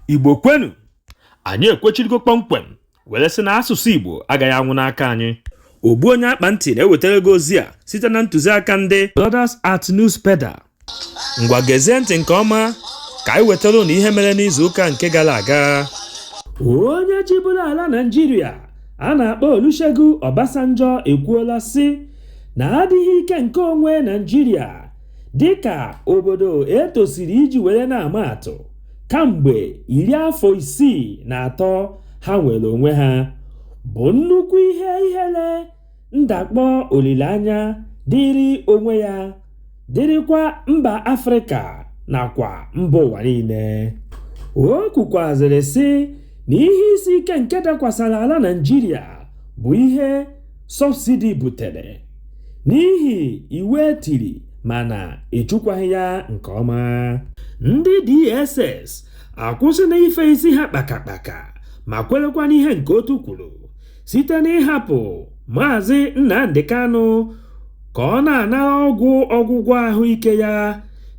igbo kwenu anyị ekwechirigo kpọmkwem were sị na asụsụ igbo agaghị anwụ n'aka anyị ogbu onye akpa ntị na-ewetara gị ozi a site na ntụziaka ndị Brothers at Newspeda ngwa gezie ntị nke ọma ka anyị wetara ụnụ ihe mere n'izu ụka nke gara aga onye chịburu ala naijiria a na-akpọ olusegun obasanjo ekwuola sị na adịghị ike nke onwe naijiria dịka obodo e tosiri iji were na-ama atụ kamgbe afọ sixty three ha nwere onwe ha bụ nnukwu ihe ihere ndakpọ olileanya dịrị onwe ya dịrịkwa mba afrịka nakwa mba ụwa niile o kwukwazịrị sị na ihe isi ike nke dakwasara ala naijiria bụ ihe sọbsidi butere n'ihi iwu e tiri mana echekwaghị ya nke ọma ndị DSS akwụsịla ife isi ha kpakakpaka ma kwerekwa n'ihe nke otu kwuru site n'ịhapụ maazị Nnamdi Kanu ka ọ na-anara ọgwụ ọgwụgwọ ahụike ya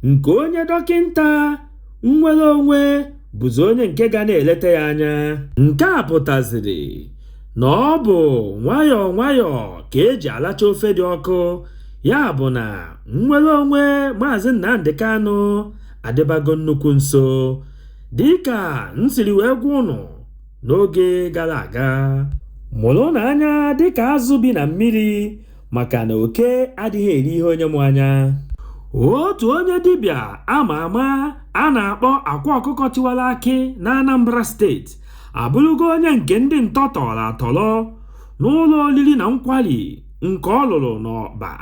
nke onye dọkịnta nwere onwe bụzi onye nke ga na-eleta ya anya nke a pụtaziri na ọ bụ nwayọọ nwayọọ ka e ji alacha ofe dị ọkụ ya bụ na nnwere onwe Maazị Nnamdi Kanu adịbago nnukwu nso dịka m siri wee gwa ụnụ n'oge gara aga mụrụnụ anya dịka azụ bi na mmiri maka na oke adịghị eri ihe onye mụ anya otu onye dibịa ama ama a na-akpọ akwa ọkụkọ tiwara akị na Anambra steeti abụrụgo onye nke ndị ntọ tọrọ atọrọ n'ụlọ oriri na nkwari nke ọ lụrụ n'Ọba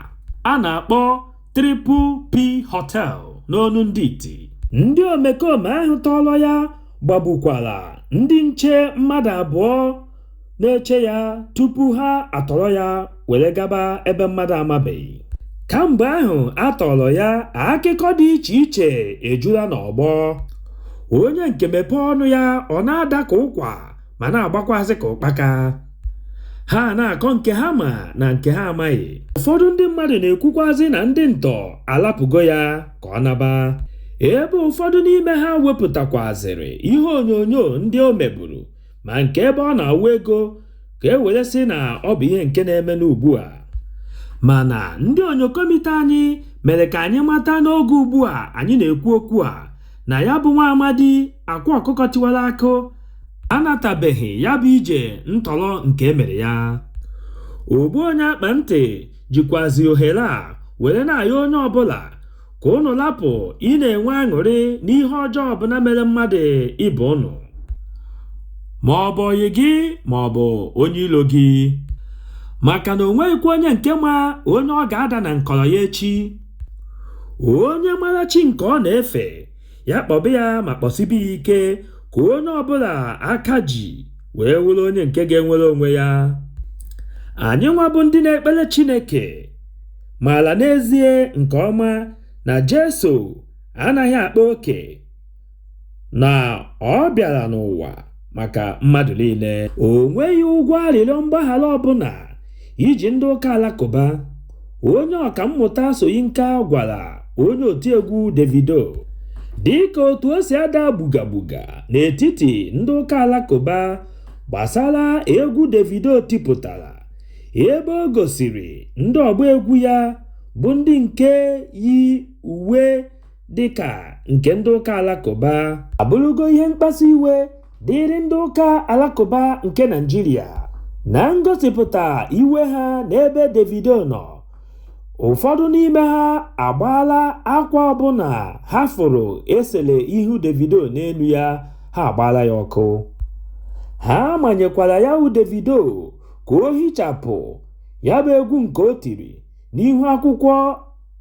a na-akpọ Triple P Hotel n'onu ndị iti ndị omekome ahụ tọrọ ya gbagbukwara ndị nche mmadụ abụọ na-eche ya tupu ha atọrọ ya were gaba ebe mmadụ amabeghị kamgbe ahụ a tọrọ ya akụkọ dị iche iche ejula n'ọgbọ onye nke mepee ọnụ ya ọ na-ada ka ụkwa ma na-agbakwazị ka ụkpaka ha na-akọ nke ha ma na nke ha amaghị ụfọdụ ndị mmadụ na-ekwukwazị na ndị ntọ alapụgo ya ka ọ naba ebe ụfọdụ n'ime ha wepụtakwazịrị ihe onyonyo ndị o meburu ma nke ebe ọ na-awụ ego ka e were sị na ọ bụ ihe nke na-eme n'ugbu a mana ndị onyokomite anyị mere ka anyị mata n'oge ugbu a anyị na-ekwu okwu a na ya bụ nwa amadi akwa ọkụkọ tiwara akụ anatabeghị ya bụ ije ntọrọ nke e mere ya ogbu onye akpa ntị jikwazi ohere a were na-ayọ onye ọbụla ka ụnụ lapụ ịna-enwe aṅụrị n'ihe ọjọọ ọbụla mere mmadụ ibe ụnụ ma ọ bụ ọyị gị ma ọ bụ onye ilo gị maka na o nweghịkwa onye nke ma onye ọ ga-ada na nkọrọ ya echi onye mara chi nke ọ na-efe ya kpọba ya ma kpọsibe ya ike ka onye ọbụla aka ji wee wụrụ onye nke ga-enwere onwe ya anyị nwa bụ ndị na-ekpere Chineke maara n'ezie nke ọma na Jesu anaghị akpa oke na ọ bịara n'ụwa maka mmadụ niile. O nweghị ụgwọ arịrịọ mgbaghara ọbụla i ji ndị ụka alakụba, onye ọkammụta Soyinka gwara onye otiegwu Davido. Dịka otu o si ada gbuga gbuga n'etiti ndị ụka alakụba gbasara egwu Davido tipụtara ebe o gosiri ndị ọgba egwu ya bụ ndị nke yi uwe dịka nke ndị ụka alakụba abụrụgo ihe mkpasu iwe dịịrị ndị ụka alakụba nke Naịjirịa na ngosipụta iwe ha n'ebe Davido nọ ụfọdụ n'ime ha agbaala akwa ọbụla ha fụrụ e sele ihu Davido n'elu ya ha agbaala ya ọkụ ha manyekwara ya wụ Davido ka o hichapụ ya bụ egwu nke o tiri n'ihu akwụkwọ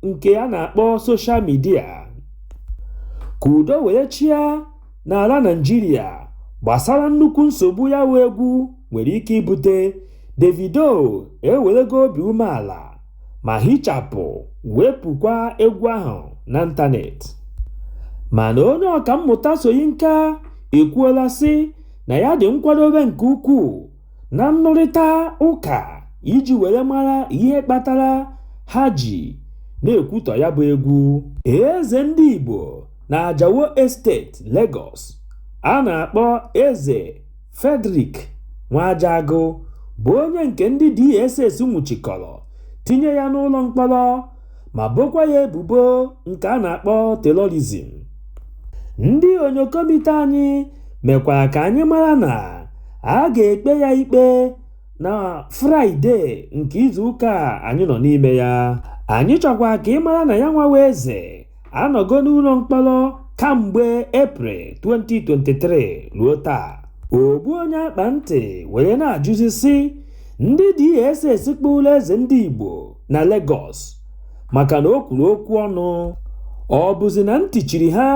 nke a na-akpọ soshal midia ka udo were chịa n'ala Naịjirịa gbasara nnukwu nsogbu ya wụ egwu nwere ike ibute Davido ewerego obi umeala ma hichapụ wepụkwa egwu ahụ n'ịntanetị mana onye ọkammụta Soyinka ekwuola sị na ya dị nkwadobe nke ukwuu na nnụrịta ụka iji were mara ihe kpatara ha ji na-ekwutọ ya bụ egwu eze ndị Igbo na Ajao Estate Lagos a na-akpọ eze Frederick Nwajagụ bụ onye nke ndị DSS nwụchikọrọ tinye ya n'ụlọ mkpọrọ ma bokwa ya ebubo nke a na-akpọ terọrizim. Ndị onyokomita anyị mekwara ka anyị mara na a ga-ekpe ya ikpe na Fraịde nke izuụka a anyị nọ n'ime ya. Anyị chọkwara ka ị mara na yanwa wụ Eze anọgo n'ụlọ mkpọrọ kamgbe Eprel 2023 ruo taa ogbu onye akpa ntị were na-ajụzi sị ndị DSS kpụrụ eze ndị Igbo na Lagos maka na o kwuru okwu ọnụ ọ bụzi na ntị chiri ha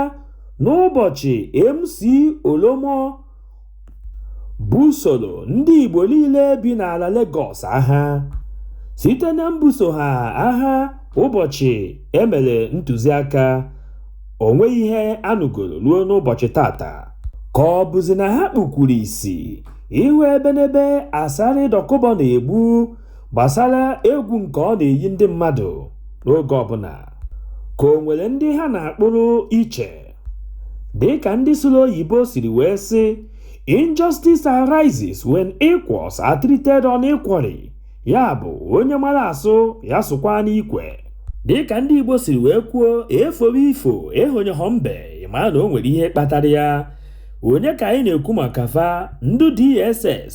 n'ụbọchị MC Oluomo busoro ndị Igbo niile bi n'ala Legọs agha site na mbuso ha agha ụbọchị e mere ntụziaka o nweghị ihe a nụgoro ruo n'ụbọchị tata ka ọ bụzi na ha kpukwuru isi ịhụ ebenebe Asari Dokubo na-egbu gbasara egwu nke ọ na-eyi ndị mmadụ n'oge ọbụla ka o nwere ndị ha na-akpụrụ iche dịka ndị sụrụ oyibo siri wee sị injustice arises when equals are treated unequally ya bụ onye mara asụ ya sụkwa n'ikwe dịka ndị Igbo siri wee kwuo e fobe ifo ehonyehọ mbe ị mara na o nwere ihe kpatara ya onye ka anyị na-ekwu maka fa ndị DSS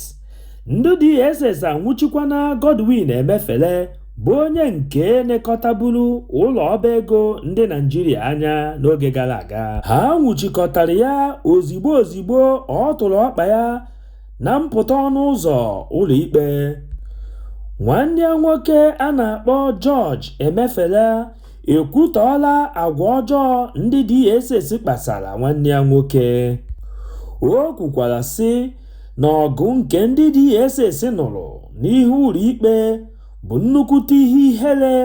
ndị DSS anwụchikwana Godwin Emefele bụ onye nke nekọtaburu ụlọ ọba ego ndị Naijiria anya n'oge gara aga ha nwụchikọtara ya ozigbo ozigbo ọ tụrụ ọkpa ya na mpụta ọnụ ụzọ ụlọikpe nwanne ya nwoke a na-akpọ George Emefele ekwutọọla agwa ọjọọ ndị DSS kpasara nwanne ya nwoke o kwukwara sị na ọgụ nke ndị DSS nụrụ n'ihu ụlọikpe bụ nnukwute ihe ihere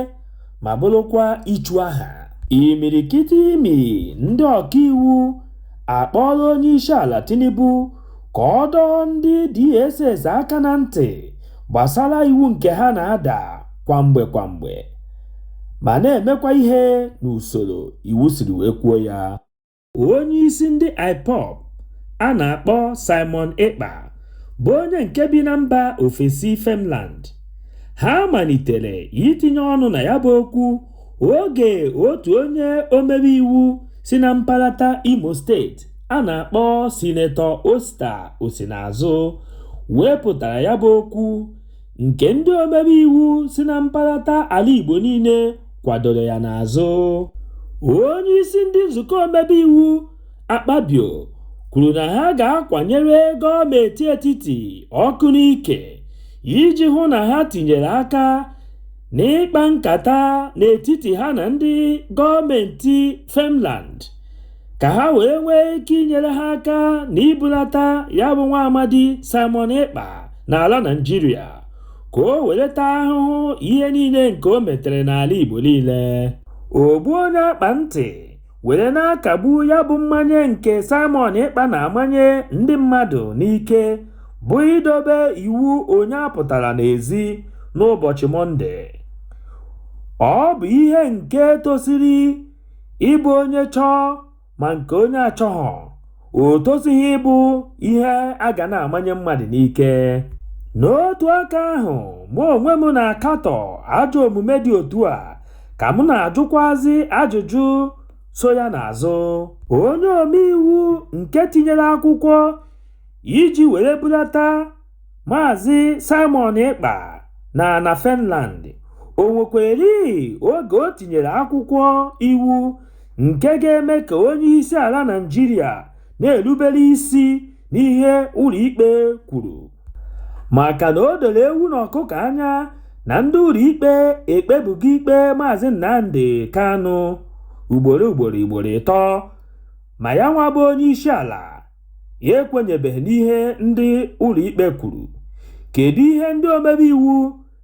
ma bụrụkwa ichu aha. Imirikiti imi ndị ọkaiwu akpọọla Onyeisiala Tinubu ka ọ dọọ ndị DSS aka na ntị gbasara iwu nke ha na-ada kwa mgbe kwa mgbe ma na-emekwa ihe n'usoro iwu siri wee kwuo ya. onye isi ndị IPOB a na-akpọ Simon Ekpa bụ onye nke bi na mba ofesi Finland ha malitere itinye ọnụ na ya bụ okwu oge otu onye omebe iwu si na mparata Imo steeti a na-akpọ Sinetọ Osita Osinazụ wepụtara ya bụ okwu nke ndị omebe iwu si na mparata ala Igbo niile kwadoro ya n'azụ. Onye isi ndị nzukọ omebe iwu Akpabio kwuru na ha ga-akwanyere gọọmenti etiti ọkụ n'ike iji hụ na ha tinyere aka n'ịkpa nkata n'etiti ha na ndị gọọmenti Finland. ka ha wee nwee ike inyere ha aka na ibulata ya bụ nwa amadi Simon Ekpa n'ala Naịjirịa ka o were ta ahụhụ ihe niile nke o metere n'ala Igbo niile ogbu onye akpa ntị were na-akagbu ya bụ mmanye nke Simon Ekpa na-amanye ndị mmadụ n'ike bụ idobe iwu onye apụtala n'ezi n'ụbọchị Mọnde ọ bụ ihe nke tosiri ịbụ onye chọọ ma nke onye achọghọ o tosighị ịbụ ihe a ga na-amanye mmadụ n'ike n'otu aka ahụ mụ onwe m na-akatọ ajọ omume dị otu a ka m na-ajụkwazi ajụjụ so ya n'azụ onye omeiwu nke tinyere akwụkwọ iji were bulata Maazị Simon Ekpa na na Finland, o nwekweri oge o tinyere akwụkwọ iwu nke ga-eme ka onye isi ala Naịjirịa na-erubere isi n'ihe ụlọ ikpe kwuru maka na o doro ewu na ọkụkọ anya na ndị ụlọ ikpe ekpebugo ikpe Maazị Nnamdi Kanu ugboro ugboro ugboro ịtọ ma ya nwa bụ onye isi ala ya ekwenyebeghị n'ihe ndị ụlọikpe kwuru. Kedu ihe ndị omebe iwu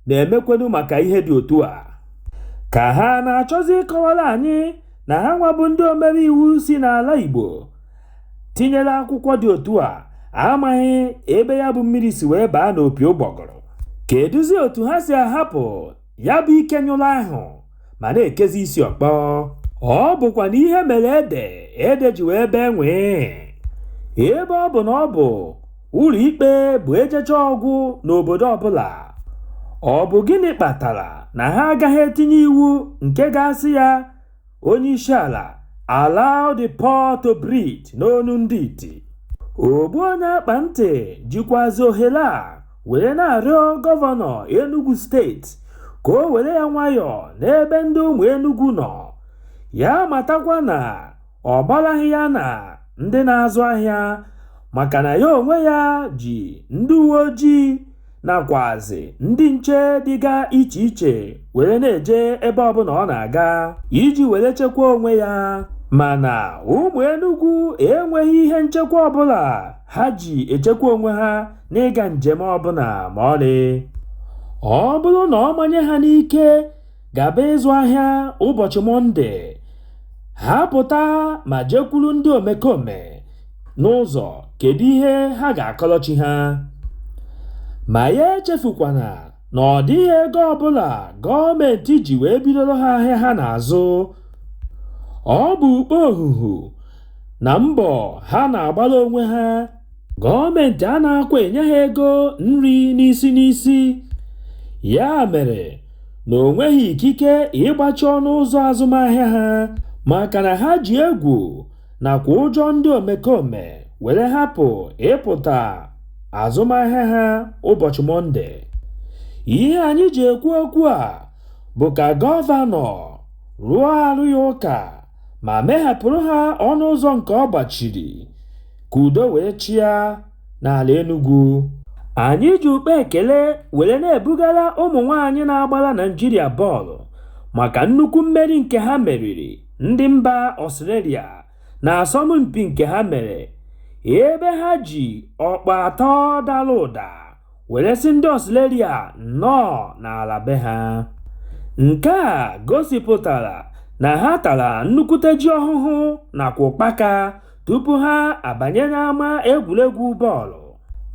na-emekwenu maka ihe dị otu a? Ka ha na-achọzi ịkọwara anyị na ha nwa bụ ndị omebe iwu si n'ala Igbo tinyere akwụkwọ dị otu a amaghị ebe ya bụ mmiri si wee baa n'opi ụgbọgụrụ. Kedụzi otu ha si ahapụ ya bụ ike nyụrụ ahụ ma na-ekezi isi ọkpọ ọ bụkwanụ ihe mere ede ede ji wee bee nwee ebe ọ bụ na ọ bụ ụlọ ikpe bụ ejechaa ọ gwụ n'obodo ọbụla ọ bụ gịnị kpatara na ha agaghị etinye iwu nke ga-asị ya onye isi ala allow the poor to breathe n'onu ndị iti ogbu onye akpa ntị jikwazi ohere a were na-arịọ gọvanọ enugu steeti ka o were ya nwayọọ n'ebe ndị ụmụ enugu nọ ya matakwa na ọ gbaraghị ya na ndị na-azụ ahịa maka na ya onwe ya ji ndị uwe ojii nakwazi ndị nche dịga iche iche were na-eje ebe ọbụla ọ na-aga iji were chekwa onwe ya mana ụmụ Enugu enweghị ihe nchekwa ọbụla ha ji echekwa onwe ha n'ịga njem ọbụla ma ọlị ọ bụrụ na ọ manye ha n'ike gaba ịzụ ahịa ụbọchị Mọnde, ha pụta ma jekwuru ndị omekome n'ụzọ kedu ihe ha ga-akọlọ chi ha. Ma ya echefukwana na ọ dịghị ego ọbụla gọọmenti ji wee bidoro ha ahịa ha na-azụ. Ọ bụ ukpo ohuhu na mbọ ha na-agbara onwe ha Gọọmentị a na-akwa enye ha ego nri n'isi n'isi, ya mere na o nweghị ikike ịgbachi ọnụ ụzọ azụmahịa ha maka na ha ji egwu nakwa ụjọ ndị omekome were hapụ ịpụta azụmahịa ha ụbọchị Mọnde. Ihe anyị ji ekwu okwu a bụ ka gọvanọ rụọ arụ ya ụka ma meghapụrụ ha ọnụ ụzọ nke ọ gbachiri ka udo wee chịa n'ala Enugu. Anyị ji ukpe ekele were na-ebugara ụmụ nwaanyị na-agbara Naịjirịa bọọlụ maka nnukwu mmeri nke ha meriri ndị mba Ọstrelia n'asọmpi nke ha mere ebe ha ji ọkpụ atọ dara ụda. were sị ndị Australia nnọọ n'ala be ha. Nke a gosipụtara na ha tara nnukwute ji ọhụhụ nakwa ụkpaka tupu ha abanye n'ama egwuregwu bọọlụ.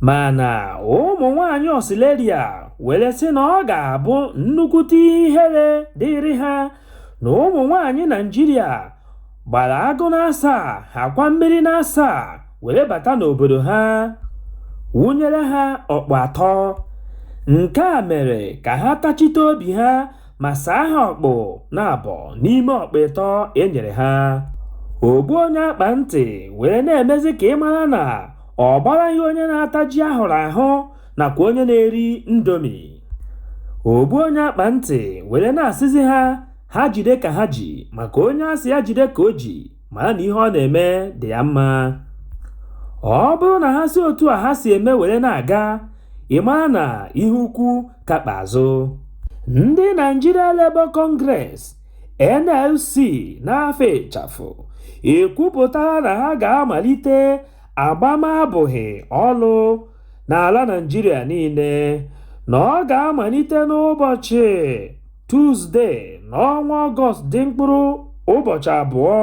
Mana ụmụ nwaanyị Australia were sị na ọ ga-abụ nnukwute ihere dịịrị ha na ụmụ nwaanyị Naịjirịa gbara agụ n'asaa ha kwa mmiri n'asaa were bata n'obodo ha wụnyere ha ọkpụ atọ nke a mere ka ha tachite obi ha ma saa ha ọkpụ naabọ n'ime ọkpụ ịtọ e nyere ha ogbu onye akpa ntị were na-emezi ka ị mara na ọ gbaraghị onye na-ata ji a hụrụ ahụ nakwa onye na-eri Indomie ogbu onye akpa ntị were na-asịzi ha ha jide ka ha ji maka onye a sị ya jide ka o ji mara na ihe ọ na-eme dị ya mma ọ bụrụ na ha si otu a ha si eme were na-aga ị mara na ihe ukwu ka kpa azụ ndị Nigeria Labour Congress NLC n'afa ịchafụ ekwupụtara na ha ga-amalite agbam abụbọ ọlụ n'ala Naịjirịa niile na ọ ga-amalite n'ụbọchị Tuzdee n'ọnwa Ọgọst dị mkpụrụ ụbọchị abụọ.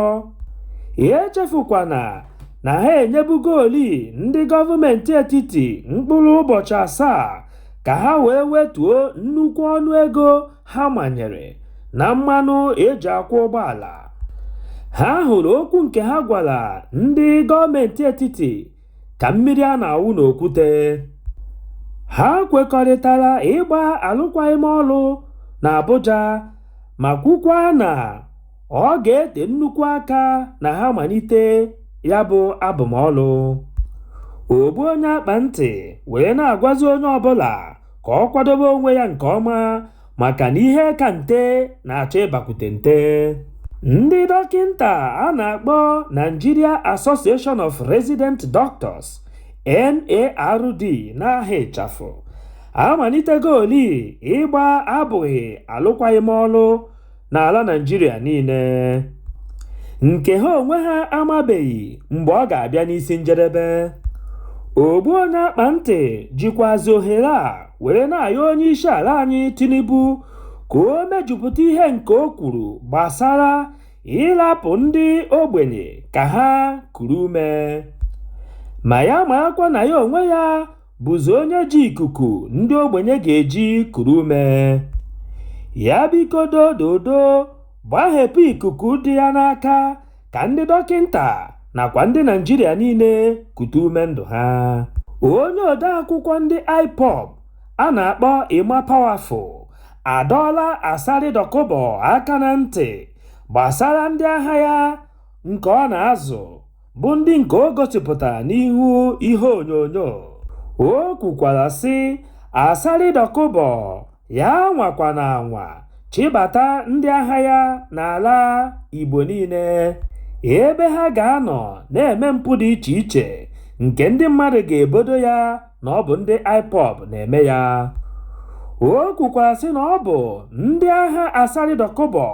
Echefukwana na ha enyebugoli ndị gọọmentị etiti mkpụrụ ụbọchị asaa ka ha wee wetuo nnukwu ọnụ ego ha manyere na mmanụ e ji akwọ ụgbọala. Ha hụrụ okwu nke ha gwara ndị gọọmentị etiti ka mmiri a na-awụ n'okwute ha kwekọrịtara ịgba alụkwaghị m ọlụ na Abuja ma kwukwa na ọ ga-ete nnukwu aka na ha malite ya bụ abụbọ ọlụ ogbu onye akpa ntị wee na-agwazi onye ọbụla ka ọ kwadobe onwe ya nke ọma maka na ihe ka nte na-achọ ịbakwute nte ndị dọkịnta a na-akpọ Nigeria Association of Resident Doctors NARD n'aha ịchafụ amalitegoli ịgba abụghị alụkwaghị m ọlụ n'ala Naịjirịa niile nke ha onwe ha amabeghị mgbe ọ ga-abịa n'isi njedebe ogbu onye akpa ntị jikwazi ohere a were na-ayọ onye isi ala anyị Tinubu ka o mejupụta ihe nke o kwuru gbasara ịrapụ ndị ogbenye ka ha kuru ume ma ya marakwa na ya onwe ya bụzi onye ji ikuku ndị ogbenye ga-eji kuru ume. Ya biko dododo gbaghepụ ikuku dị ya n'aka ka ndị dọkịnta nakwa ndị Naịjirịa niile kute ume ndụ ha. Onye odeakwụkwọ ndị IPOB a na-akpọ Emma Powerful adọọla Asari Dokubo aka na ntị gbasara ndị agha ya nke ọ na-azụ bụ ndị nke o gosipụtara n'ihu ihe onyonyo o kwukwara sị Asari Dokubo ya anwakwana anwa chịbata ndị agha ya n'ala Igbo niile ebe ha ga-anọ na-eme mpụ dị iche iche nke ndị mmadụ ga-ebodo ya na ọ bụ ndị IPOB na-eme ya o kwukwara sị na ọ bụ ndị agha Asari Dokubo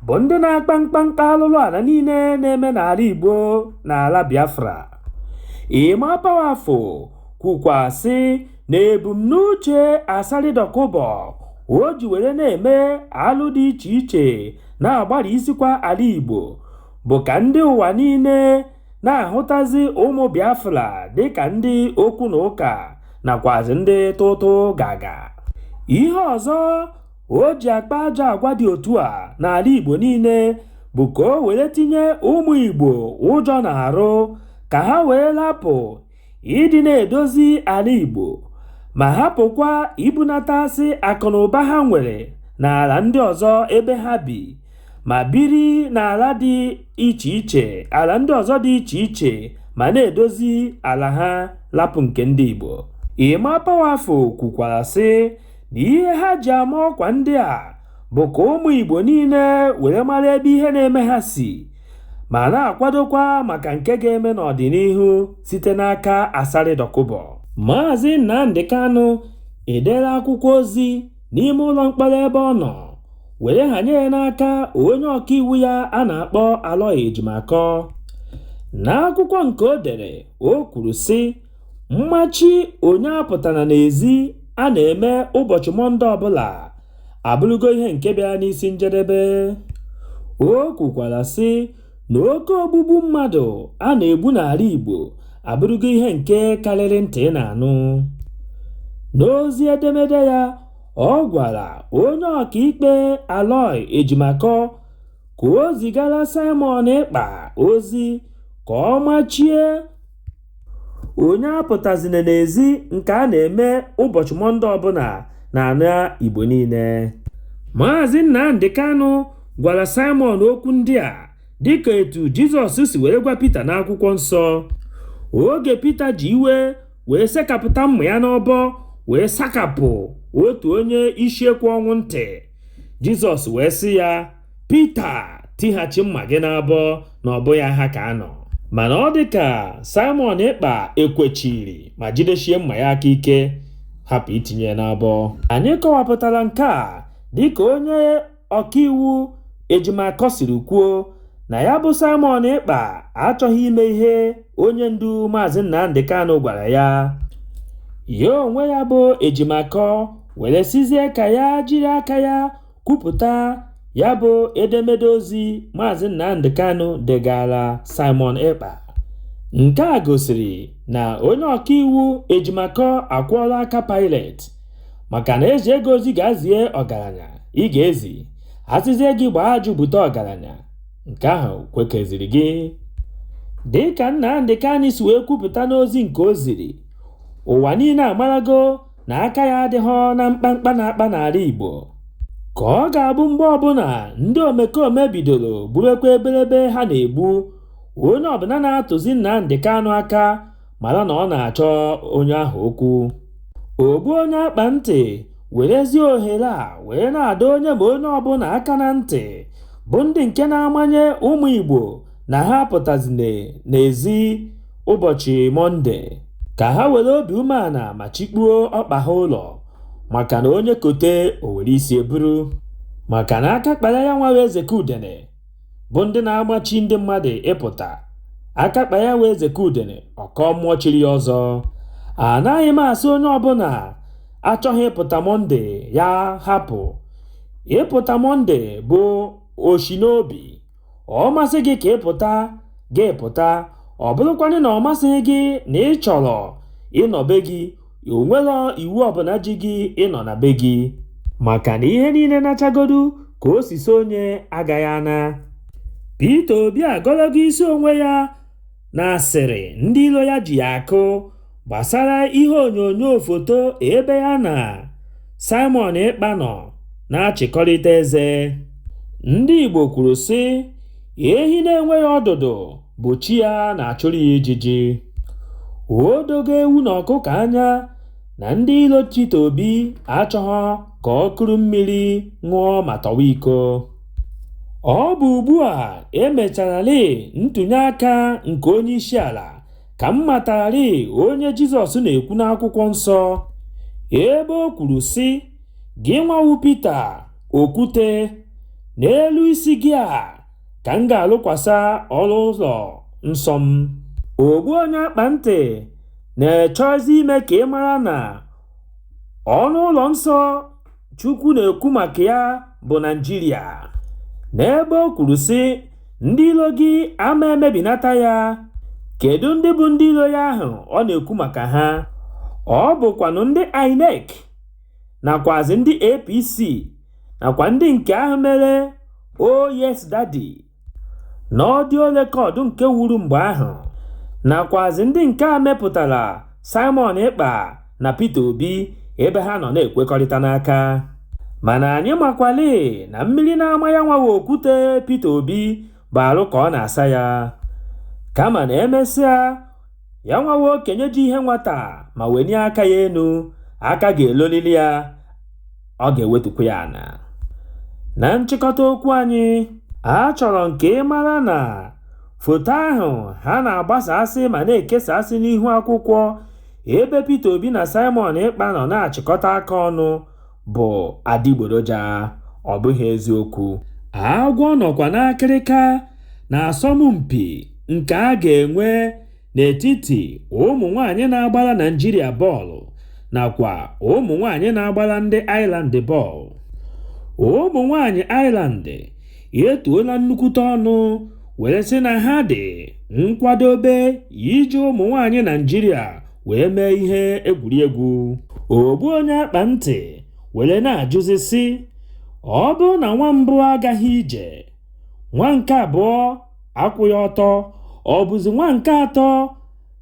bụ ndị na-akpa mkpamkpa alụlụ ala niile na-eme n'ala Igbo na ala Biafra Emma Powerful kwukwa sị na ebumnuche Asari Dokubo o ji were na-eme alụ dị iche iche na-agbara isikwa ala Igbo bụ ka ndị ụwa niile na-ahụtazi ụmụ Biafra dịka ndị okwu na ụka nakwazi ndị tụtụ gaga ihe ọzọ o ji akpa ajọ agwa dị otu a n'ala Igbo niile bụ ka o were tinye ụmụ Igbo ụjọ n'arụ ka ha wee lapụ ịdị na-edozi ala Igbo ma hapụkwa ibunatasị akụnụba ha nwere n'ala ndị ọzọ ebe ha bi ma biri n'ala dị iche iche ala ndị ọzọ dị iche iche ma na-edozi ala ha lapụ nke ndị Igbo Emma Powerful kwukwara sị na ihe ha ji ama ọkwa ndị a bụ ka ụmụ Igbo niile were mara ebe ihe na-eme ha si ma na-akwadokwa maka nke ga-eme n'ọdịnihu site n'aka Asari Dokubo. Maazị Nnamdi Kanu edere akwụkwọ ozi n'ime ụlọ mkpọrọ ebe ọ nọ were hanye ya n'aka onye ọkaiwu ya a na-akpọ Aloy Ejimakor. N'akwụkwọ nke o dere, o kwuru sị, mmachi onye apụtana n'ezi a na-eme ụbọchị Mọnde ọbụla abụrụgo ihe nke bịara n'isi njedebe o kwukwara sị na oke ogbugbu mmadụ a na-egbu n'ala Igbo abụrụgo ihe nke karịrị ntị na-anụ n'ozi edemede ya ọ gwara onye ọkaikpe Aloy Ejimakor ka o zigara Simon Ekpa ozi ka ọ machie Onye apụtazịna n'ezi nke a na-eme ụbọchị Mọnde ọbụla n'ala Igbo niile. Maazị Nnamdi Kanu gwara Simon okwu ndị a dịka etu Jizọs si were gwa Pita n'akwụkwọ nsọ. Oge Pita ji iwe wee sekapụta mma ya n'ọbọ wee sakapụ otu onye isi ekwe ọnwụ ntị, Jizọs wee sị ya, Pita tighachi mma gị n'abọ na ọ bụghị ha ka a nọ mana ọ dị ka Simon Ekpa ekwechiri ma jidechie mma ya aka ike hapụ itinye ya n'abọ anyị kọwapụtara nke a dịka onye ọkaiwu Ejimakor siri kwuo na ya bụ Simon Ekpa achọghị ime ihe onye ndu Maazị Nnamdi Kanu gwara ya ya onwe ya bụ Ejimakor were sịzie ka ya jiri aka ya kwupụta ya bụ edemede ozi Maazị Nnamdi Kanu degara Simon Ekpa. Nke a gosiri na onye ọkaiwu Ejimakor akwọọla aka Pilate maka na e zie gị ozi gaa zie ọgaranya ị ga-ezi a sịzie gị gbaa ajụ bute ọgaranya nke ahụ kwekeziri gị dịka Nnamdi Kanu si wee kwupụta n'ozi nke o ziri ụwa niile amarago na aka ya adịghị na mkpamkpa a na-akpa n'ala Igbo ka ọ ga-abụ mgbe ọbụla ndị omekome bidoro gbuwekwa ebelebe ha na-egbu onye ọbụla na-atụzi Nnamdi Kanu aka mara na ọ na-achọ onye ahụ okwu ogbu onye akpa ntị werezie ohere a wee na-adọ onye ma onye ọbụla aka na ntị bụ ndị nke na-amanye ụmụ Igbo na ha apụtazine n'ezi ụbọchị Mọnde ka ha were obi umeala ma chịkpuo ọkpa ha ụlọ maka na onye kote o were isi ya buru maka na aka kpara ya nwa eze ka udene bụ ndị na-amachi ndị mmadụ ịpụta aka kpa ya wee zeke udene ọkọ mmụọ chiri ya ọzọ anaghị m asị onye ọbụla achọghị ịpụta mọnde ya hapụ ịpụta mọnde bụ oshi n'obi ọ masị gị ka ị pụta gị pụta ọ bụrụkwanụ na ọ masịghị gị na ị chọrọ ịnọ be gị o nwehọ iwu ọbụla ji gị ịnọ na be gị maka na ihe niile nachagodu ka o si sọ onye agaghị ana Peter Obi agọlọgo isi onwe ya na asịrị ndị ilo ya ji ya akụ gbasara ihe onyonyo foto ebe ya na Simon Ekpa nọ na-achịkọrịta eze. Ndị Igbo kwuru sị, ehi na-enweghị ọdụdụ bụ chi ya na-achụrụ ya ijiji. O dogo ewu na ọkụkọ anya na ndị ilo Peter Obi achọghọ ka o kuru mmiri ṅụọ ma tọwa iko. Ọ bụ ugbu a e mechararị ntụnye aka nke onye isi ala ka m matararị onye Jizọs na-ekwu n'akwụkwọ nsọ ebe o kwuru sị gị nwa wụ Pita okwute n'elu isi gị a ka m ga-alụkwasa ọnụ ụlọ nsọ m ogbu onye akpa ntị na-echọzi ime ka ị mara na ọnụ ụlọ nsọ Chukwu na-ekwu maka ya bụ Naịjirịa n'ebe o kwuru sị ndị ilo gị ama emebinata ya kedu ndị bụ ndị ilo ya ahụ ọ na-ekwu maka ha ọ bụkwanụ ndị INEC nakwazi ndị APC nakwa ndị nke ahụ mere oh yes daddy. na ọdịo rekọd nke wuru mgbe ahụ nakwazị ndị nke a mepụtara Simon Ekpa na Peter Obi ebe ha nọ na-ekwekọrịta n'aka mana anyị makwalị na mmiri na-ama ya nwa wụ okwute Peter Obi bụ arụ ka ọ na-asa ya kama na emesịa ya nwa wụ okenye ji ihe nwata ma wenie aka ya enu aka ga-elolili ya ọ ga-ewetukwa ya ana na nchịkọta okwu anyị achọrọ m ka ị mara na foto ahụ ha na-agbasasị ma na-ekesasị n'ihu akwụkwọ ebe Peter Obi na Simon Ekpa nọ na-achịkọta aka ọnụ bụ adịgboroja ọ bụghị eziokwu agwọ nọkwa n'akịrịka na asọmpi nke a ga-enwe n'etiti ụmụ nwaanyị na-agbara Naịjirịa bọọlụ nakwa ụmụ nwaanyị na-agbara ndị Ireland bọọlụ. Ụmụ nwaanyị Ireland etuola nnukwute ọnụ were sị na ha dị nkwadobe iji ụmụ nwaanyị Naịjirịa wee mee ihe egwuregwu. Ogbu onye akpa ntị were na-ajụzi sị, ọ bụrụ na nwa mbụ agaghị ije, nwa nke abụọ akwụghị ọtọ ọ bụzi nwa nke atọ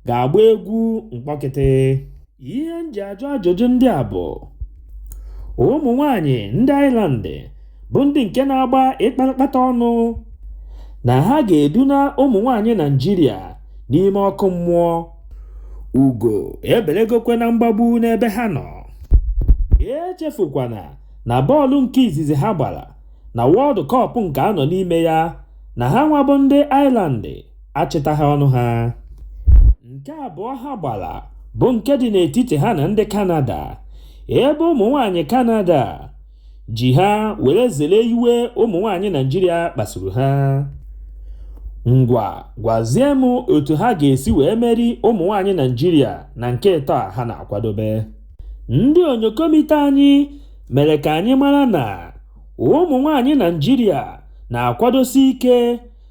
ga-agba egwu mkpọkịtị ihe m ji ajụ ajụjụ ndị a bụ ụmụ nwanyị ndị Ireland bụ ndị nke na-agba ịkpatakpata ọnụ na ha ga-eduna ụmụ nwanyị Naịjirịa n'ime ọkụ mmụọ ugo ebelegokwe na mgbagbu n'ebe ha nọ echefukwana na bọọlụ nke izizi ha gbara na World Cup nke a nọ n'ime ya na ha nwa bụ ndị Ireland achịtaghị ọnụ ha nke abụọ ha gbara bụ nke dị n'etiti ha na ndị Canada ebe ụmụ nwanyị Canada ji ha were zere iwe ụmụ nwanyị Naịjirịa kpasuru ha ngwa gwazie m otu ha ga-esi wee meri ụmụ nwanyị Naịjirịa na nke ịtọ a ha na-akwadobe ndị onyokomite anyị mere ka anyị mara na ụmụ nwaanyị Naịjirịa na-akwadosi ike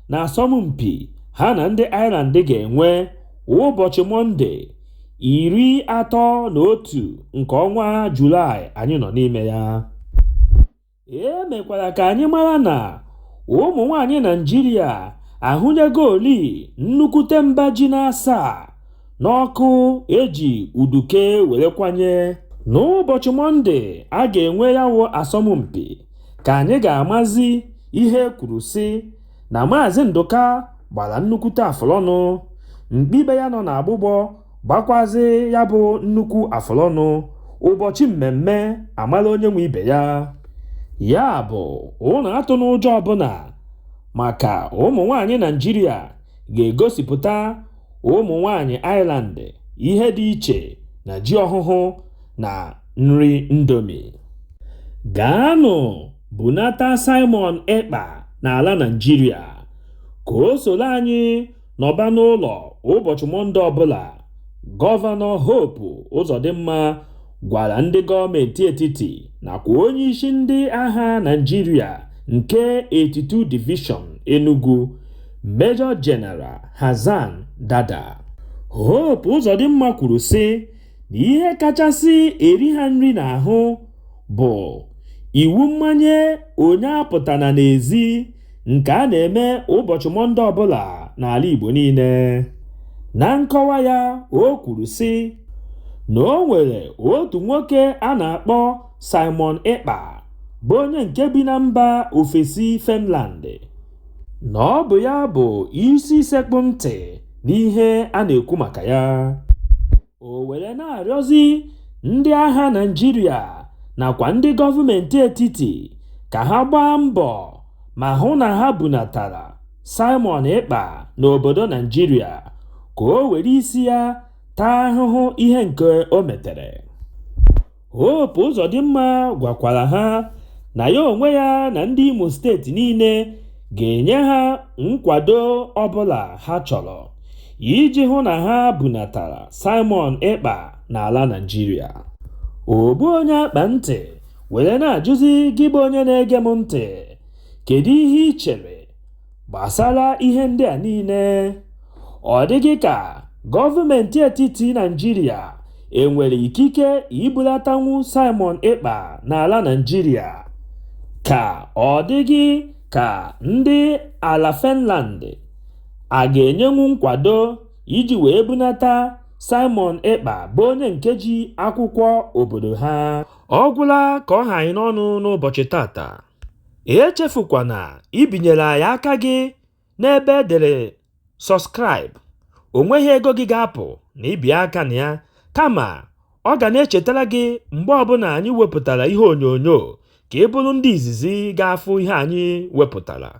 na asọmpi ha na ndị Ireland ga-enwe ụbọchị Mọnde, 31 nke ọnwa Julaị anyị nọ n'ime ya. E mekwara ka anyị mara na ụmụ nwaanyị Naịjirịa ahụnyegoli nnukwute mba ji n'asaa n'ọkụ e ji uduke were kwanye n'ụbọchị mọnde a ga-enwe ya wụ asọmpi ka anyị ga-amazi ihe kwuru sị na maazị ndụka gbara nnukwute afụlọnụ mkpi be ya nọ n'agbụgbọ gbakwazi ya bụ nnukwu afụlọnụ ụbọchị mmemme amala onye nwe ibe ya ya bụ unu atụna ụjọ ọbụla maka ụmụ nwanyị naịjirịa ga-egosipụta ụmụ nwanyị Ireland ihe dị iche na ji ọhụhụ na nri Indomie. Gaanụ bunata Simon Ekpa n'ala Naịjirịa ka o soro anyị nọba n'ụlọ ụbọchị Mọnde ọbụla, Gọvanọ Hope Uzodinma gwara ndị gọọmenti etiti nakwa onye isi ndị agha Naịjirịa nke 82 Division Enugu Major General Hassan Dada Hope Uzodimma kwuru sị na ihe kachasị eri ha nri n'ahụ bụ iwu mmanye onye apụtana n'ezi nke a na-eme ụbọchị Mọnde ọbụla n'ala Igbo niile. Na nkọwa ya, o kwuru sị na o nwere otu nwoke a na-akpọ Simon Ekpa bụ onye nke bi na mba ofesi Finland na ọ bụ ya bụ isi sekpụ ntị n'ihe a na-ekwu maka ya. o were na-arịọzi ndị agha Naịjirịa nakwa ndị gọọmenti etiti ka ha gbaa mbọ ma hụ na ha bunatara Simon Ekpa n'obodo Naịjirịa ka o were isi ya taa ahụhụ ihe nke o metere. Hope Uzodimma gwakwara ha na ya onwe ya na ndị Imo steeti niile ga-enye ha nkwado ọbụla ha chọrọ iji hụ na ha bunatara Simon Ekpa n'ala Naịjirịa. Ogbu onye akpa ntị were na-ajụzi gị bụ onye na-ege m ntị, kedu ihe i chere? Gbasara ihe ndị a niile, ọ dị gị ka gọọmentị etiti Naịjirịa e nwere ikike ibulatanwu Simon Ekpa n'ala Naịjirịa, ka ọ dị gị ka ndị ala Finland a ga-enyenwu nkwado iji wee bunata Simon Ekpa bụ onye nke ji akwụkwọ obodo ha. Ọ gwụla ka ọ ha anyị n'ọnụ n'ụbọchị tata. Echefukwana ibinyere anyị aka gị n'ebe e dere Subscribe, o nweghị ego gị ga-apụ na i bie aka na ya, kama ọ ga na-echetara gị mgbe ọbụla anyị wepụtara ihe onyonyo ka ị bụrụ ndị izizi ga-afụ ihe anyị wepụtara.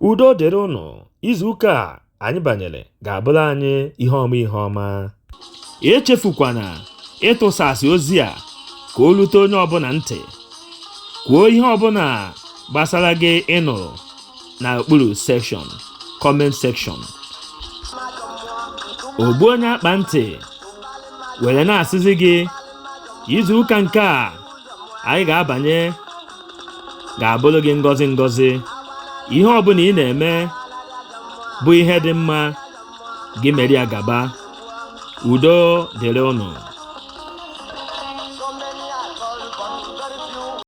Udo dịrị ụnụ, izuụka a anyị banyere ga-abụrụ anyị ihe ọma ihe ọma echefukwana ịtụsasị ozi a ka o lute onye ọbụla ntị kwuo ihe ọbụla gbasara gị ị nụrụ na okpuru section comment section ogbu onye akpa ntị were na-asịzi gị izu ụka nke a anyị ga-abanye ga-abụrụ gị ngọzi ngọzi ihe ọbụla ị na-eme bụ ihe dị mma gị mere ya gaba udo dịrị ụnụ